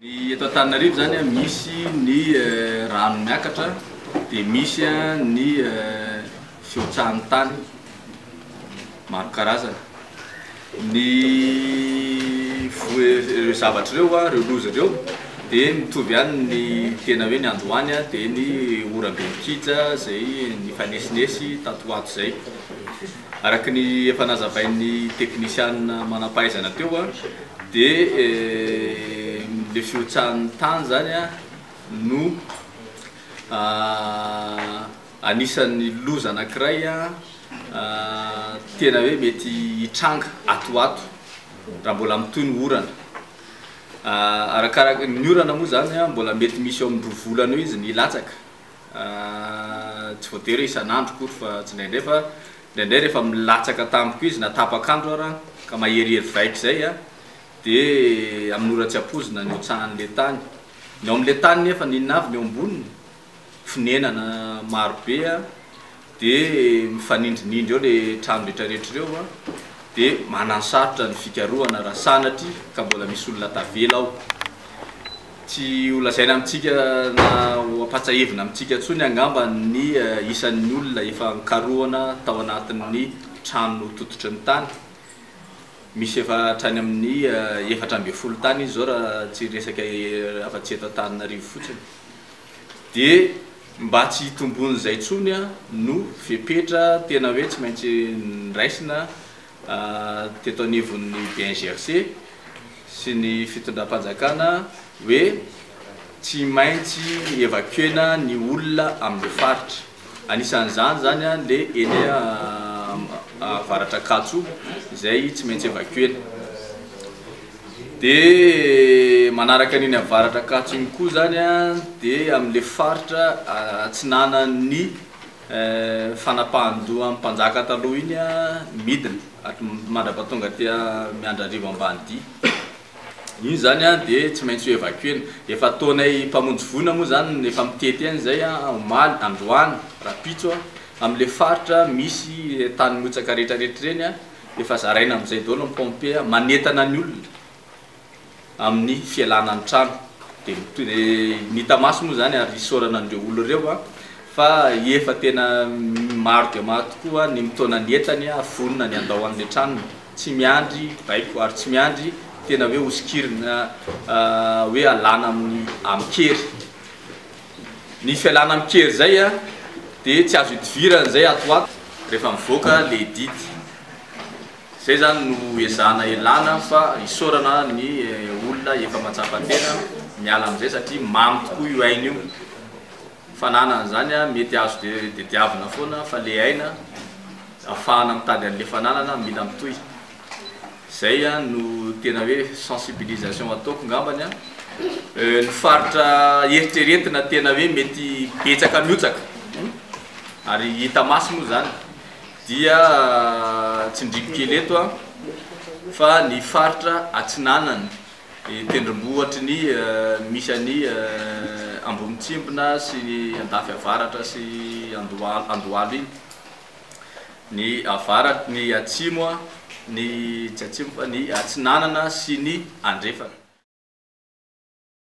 Ny eto Antananarivo zany a, misy ny rano miakatra, dia misy ny fihotsahan'ny tany maro karazana. Ny ireo zavatra ireo, ireo loza ireo dia mitovy ihany ny tena hoe ny androany dia ny oram-be mikija izay nifanesinesy tato ho ato izay. Araka ny efa nazavain'ny teknisianina manam-pahaizana teo dia ilay fihotsahan'ny tany izany no anisan'ny loza anankiray tena hoe mety hitranga ato ho ato raha mbola mitohy ny orana. Arakaraka, ny orana moa izany mbola mety misy eo amin'ny roa volana eo izy ny hilatsaka. Tsy voatery hoe isan'andro akory fa tsindraindray fa indraindray rehefa milatsaka tampoka izy na tapak'andro ara ka maherihery vaika izay a dia amin'ny ora tsy ampoizina ny hotsahan'ilay tany. Ny ao amin'ilay tany nefa n'inona avy ny eo amboniny? Fonenana marobe a, Dia mifanindrinindry eo le trano retraretra ireo a! Dia mananosarotra ny fikarohana raha sanatria ka mbola misy olona tavela ao. Tsy ho lazaina amintsika na ho ampatsahivina amintsika intsony angamba ny isan'ny olona efa nikarohana tao anatin'ny trano notototry ny tany. Misy efa hatrany amin'ny efatra ambin'ny folo tany izy izao raha tsy resaka afa-tsy eto Antananarivo fotsiny. Dia mba tsy hitombon'izay intsony no fepetra tena hoe tsy maintsy noraisina teto anivon'ny BNGRC sy ny fitondram-panjakana hoe tsy maintsy evacuer-na ny olona amin'ireo faritra. Anisan'izany izany ilay eny Avaratr'Ankatso izay tsy maintsy evacuer-na. Dia manaraka an'iny Avaratr'Ankatso iny koa izany dia amin'ilay faritra atsinanan'ny fanapahan-doha an'ny mpanjaka taloha iny midina, mandra-pahatonga aty Miandrarivo Ambanidia. iny izany an dia tsy maintsy ho evacuena. Efa ataonay mpamonjy voina moa izany efa mitety an izay an omaly, androany, rapitso an, amin'ilay faritra misy tany motsaka retraretra ireny an, efa zaraina amin'izay daholo ny pompe an, manentana ny olona amin'ny fialana ny trano. Dia ny hita maso moa izany ary isaorana an'ireo olona ireo an, fa efa tena maro dia maro tokoa ny mitaona ny entany an, vonona ny handao an'ilay tranony. tsy miandry baiko ary tsy miandry tena hoe hosokirina hoe alana amin'ny amin-kery. Ny fialana amin-kery izay dia tsy azo idivirana izay ato ho ato rehefa mivoaka ilay didy. Izay izany no ezahana ialana fa isaorana ny olona efa mahatsapa tena miala amin'izay satria mamy tokoa io aina io. Ny fananana izany mety azo tadiavina foana fa le aina afahana mitady anle fananana mila mitohy. Zay no tena hoe sensibilisation ataoko ngambany an. Ny faritra eritreretina tena hoe mety betsaka mihotsaka ary hita maso moa zany dia tsindriko kely eto an fa ny faritra atsinanana Ny tendrombohitry ny misy an'i Ambonitsimbina sy ny Andafy Avaratra sy Andohalo Andohalo iny, ny avarat ny atsimo ny tsy atsimo fa ny atsinanana sy ny andrefana.